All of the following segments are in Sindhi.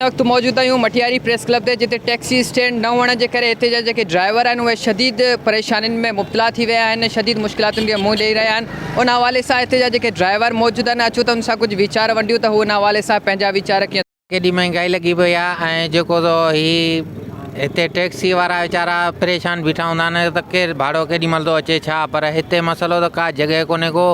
هن وقت موجود آهيون مٽياري پريس ڪلب تي جتي ٽيڪسي اسٽينڊ نه هئڻ جي ڪري هتي جا جيڪي ڊرائيور آهن اهي شديد پريشانين ۾ مبتلا ٿي ويا آهن شديد مشڪلاتن کي منهن ڏئي رهيا آهن ان حوالي سان هتي جا جيڪي ڊرائيور موجود آهن اچو ته ان سان ڪجهه ويچار ونڊيون ته هو ان حوالي سان پنهنجا ويچار ڪيئن ڪيڏي مهانگائي لڳي پئي آهي ۽ جيڪو سو هي هتي ٽيڪسي وارا ويچارا پريشان بيٺا هوندا آهن ته ڪير ڀاڙو ڪيڏي مهل ٿو اچي ڇا پر هتي مسئلو ته ڪا جڳهه ڪونهي ڪو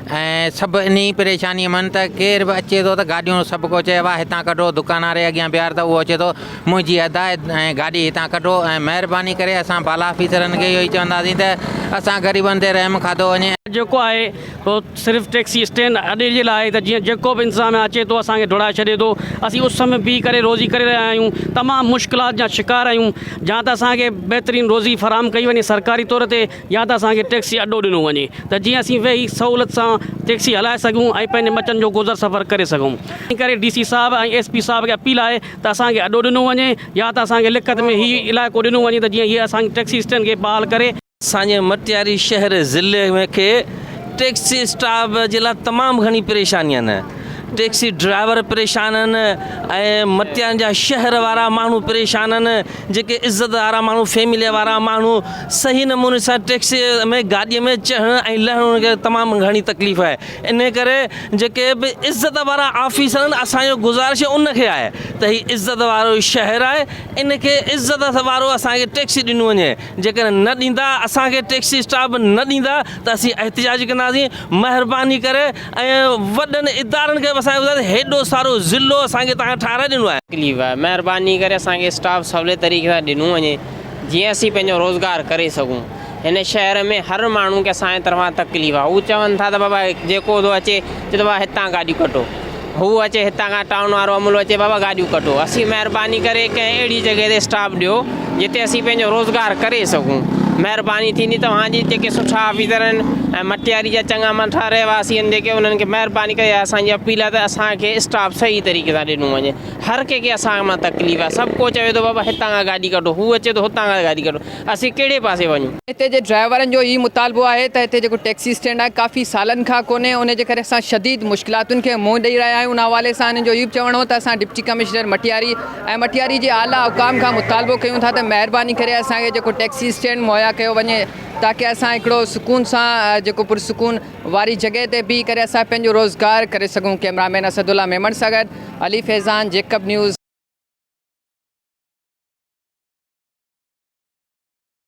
۽ سڀ انهيء پريشانيء مان ته ڪير به اچي ٿو ته گاڏيون سڀ ڪو چئي واهه هتان ڪڍو، دڪان واري اڳيان بيهار ته اهو اچي ٿو منهنجي ادا ۽ گاڏي هتان ڪڍو ۽ مهرباني ڪري اسان بالا آفيسرن کي اهو ئي چونداسين ته اسان غريبن تي رحم کاڌو وڃي. جيڪو آهي سو صرف ٽيڪسي اسٽينڊ اڏي جي لاء آهي ته جيئن جيڪو به انتظاميا اچي ٿو اسان کي ڊوڙائي ڇڏي ٿو، اسين اس ۾ بيهي ڪري روزي ڪري رهيا آهيون، تمام مشڪلات جا شڪار آهيون، جا ته اسان کي بهترين روزي فراهم ڪئي وڃي سرڪاري طور تي يا ته اسان کي ٽيڪسي اڏو ڏنو وڃي ته جيئن اسين ويهي سهولت سان ٽيڪسي هلائي سگهون ۽ پنهنجي ٻچن جو گذر سفر ڪري سگهون. ان ڪري ڊي سي صاحب ۽ ايس پي صاحب کي اپيل آهي ته اسان کي اڏو ڏنو وڃي يا ته اسان کي لکت ۾ هي علائقو ڏنو وڃي ته جيئن هي اسان جي ٽيڪسي اسٽينڊ کي بحال ڪري ساڃهه مٽياري شهر ضلعي ۾ کي ٽيڪسي اسٽاف جي لاء تمام گهڻي پريشاني آهن ٽيڪسي ڊرائيور پريشان آهن ۽ مٽياري جا شهر وارا ماڻهو پريشان آهن جيڪي عزت وارا ماڻهو فيملي وارا ماڻهو صحيح نموني سان ٽيڪسي ۾ گاڏي ۾ چڙهڻ ۽ لهڻ ان کي تمام گهڻي تڪليف آهي انهي ڪري جيڪي به عزت وارا آفيسر آهن اسان جو گذارش ان کي آهي ته هي عزت وارو شهر آهي ان کي عزت وارو اسان کي ٽيڪسي ڏنو وڃي جيڪڏهن نه ڏيندا اسان کي ٽيڪسي اسٽاف نه ڏيندا ته اسين احتجاج ڪنداسين مهرباني ڪري ۽ وڏن ادارن کي به اسان کي ٻڌايو ته هيڏو سارو ضلعو اسان کي توهان ٺهرائي ڏنو آهي. تڪليف آهي مهرباني ڪري اسان کي اسٽاف سولي طريقي سان ڏنو وڃي جيئن اسين پنهنجو روزگار ڪري سگهون هن شهر ۾ هر ماڻهو کي اسان جي طرفان تڪليف آهي هو چون ٿا ته بابا جيڪو ٿو اچي چئي ٿو بابا هتان گاڏيون ڪڍو هو اچي هتان کان ٽائون وارو عملو اچي بابا گاڏيون ڪڍو اسين مهرباني ڪري ڪنهن اهڙي جڳهه تي اسٽاف ڏيو جتي اسين پنهنجو روزگار ڪري سگهون. مهرباني ٿيندي توهان جي جيڪي سٺا آفيسر آهن ۽ مٽياري جا چڱا مٺا رهواسي آهن جيڪي انهن کي مهرباني ڪري اسان جي اپيل آهي ته اسان کي اسٽاف صحيح طريقي سان ڏنو وڃي هر ڪنهن کي اسان مان تڪليف آهي سڀ ڪو چوي ٿو بابا هتان کان گاڏي ڪڍو هو اچي ٿو هتان کان گاڏي ڪڍو اسين ڪهڙي پاسي وڃون. هتي جي ڊرائيورن جو هي مطالبو آهي ته هتي جيڪو ٽيڪسي اسٽينڊ آهي ڪافي سالن کان ڪونهي ان جي ڪري اسان شديد مشڪلاتن کي منهن ڏئي رهيا آهيون ان حوالي سان هنن جو هي به چوڻ هو ته اسان ڊپٽي ڪمشنر مٽياري ۽ مٽياري جي اعليٰ حڪام کان مطالبو ڪيون ٿا ته مهرباني ڪري اسان کي جيڪو ٽيڪسي اسٽينڊ مهيا ڪيو وڃي تاڪه اسان هڪڙو سڪون سان جيڪو پرسڪون واري جڳهه تي بيهي ڪري اسان پنهنجو روزگار ڪري سگهون ڪئميرا مين اسد الله ميمڻ سان گڏ علي فيضان جيڪب نيوز.